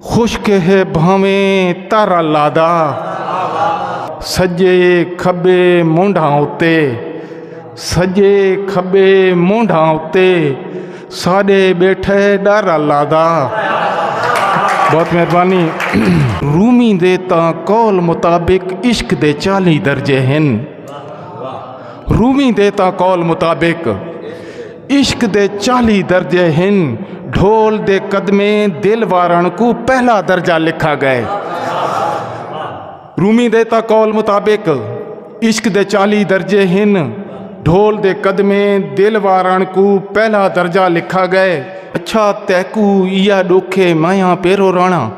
خشک ہے بھاویں تر اللہ دا سجے کھبے مونڈھاں اتے سجے کھبے مونڈھاں اتے ساڈے بیٹھے ڈر اللہ دا بہت مہربانی رومی دے تا قول مطابق عشق دے چالی درجے ہیں رومی دے تا قول مطابق عشق دے چالی درجے ہن ڈھول دے قدمے دل وارن کو پہلا درجہ لکھا گئے رومی دیتا قول مطابق عشق دے چالی درجے ہن ڈھول دے قدمے دل وارن کو پہلا درجہ لکھا گئے اچھا تیکو یا ڈوکھے مائیاں پیرو رانا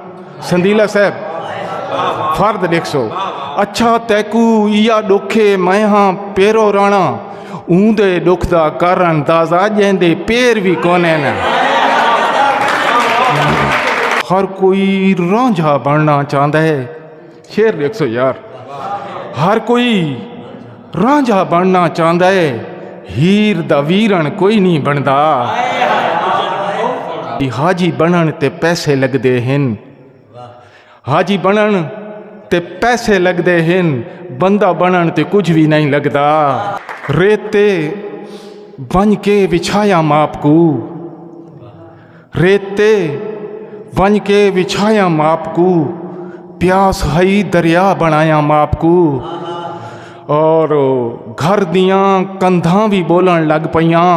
سندیلہ صاحب فرد ڈیکھ سو اچھا تیکو یا ڈوکھے میں ہاں پیرو رانا اون دے ڈوکھ دا کارن دازا جین دے پیر بھی کونے نا ہر کوئی رانجھا بننا چاہتا ہے شیر ڈیکھو یار ہر کوئی رانجھا بننا چاہتا ہے ہیر دا ویرن کوئی نہیں بنتا حاجی بنن تے پیسے لگتے ہیں حاجی بنن تے پیسے لگتے ہیں بندہ بنن تے کچھ بھی نہیں لگتا ریت تے بن کے بچھایا ماپ کو ریت تے ونج کے وچھایا ماپ کو پیاس ہئی دریا بنایا ماپ کو اور گھر دیاں کندھاں بھی بولن لگ پیاں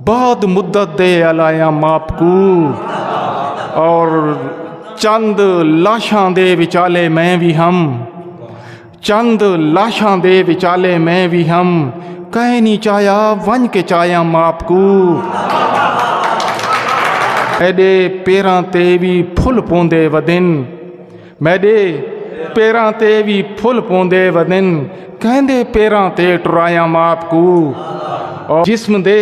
بعد مدت دے الایا ماپ کو اور چند لاشاں دے وچالے میں بھی ہم چند لاشاں دے وچالے میں بھی ہم کہے نہیں چاہیا ونج کے چاہیا ماپ کو میڈے پیراں تے بھی پھل پوندے ودن میڈے پیراں تے بھی پھل پوندے ودن کہندے پیراں تے ٹرایا ماپ کو اور جسم دے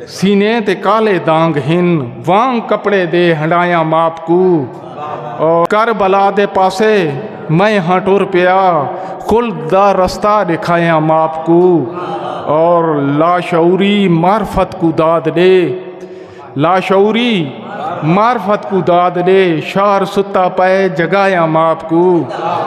سینے تے کالے دانگ ہن وانگ کپڑے دے ہنڈایا ماپ کو کر بلا دے پاسے میں ہاں ٹر پیا کل دا رستہ دکھایا ماپ کو اور لاشعوری معرفت کو داد دے لاشعوری معرفت کو داد دے شہر ستا پائے جگایا ماپ کو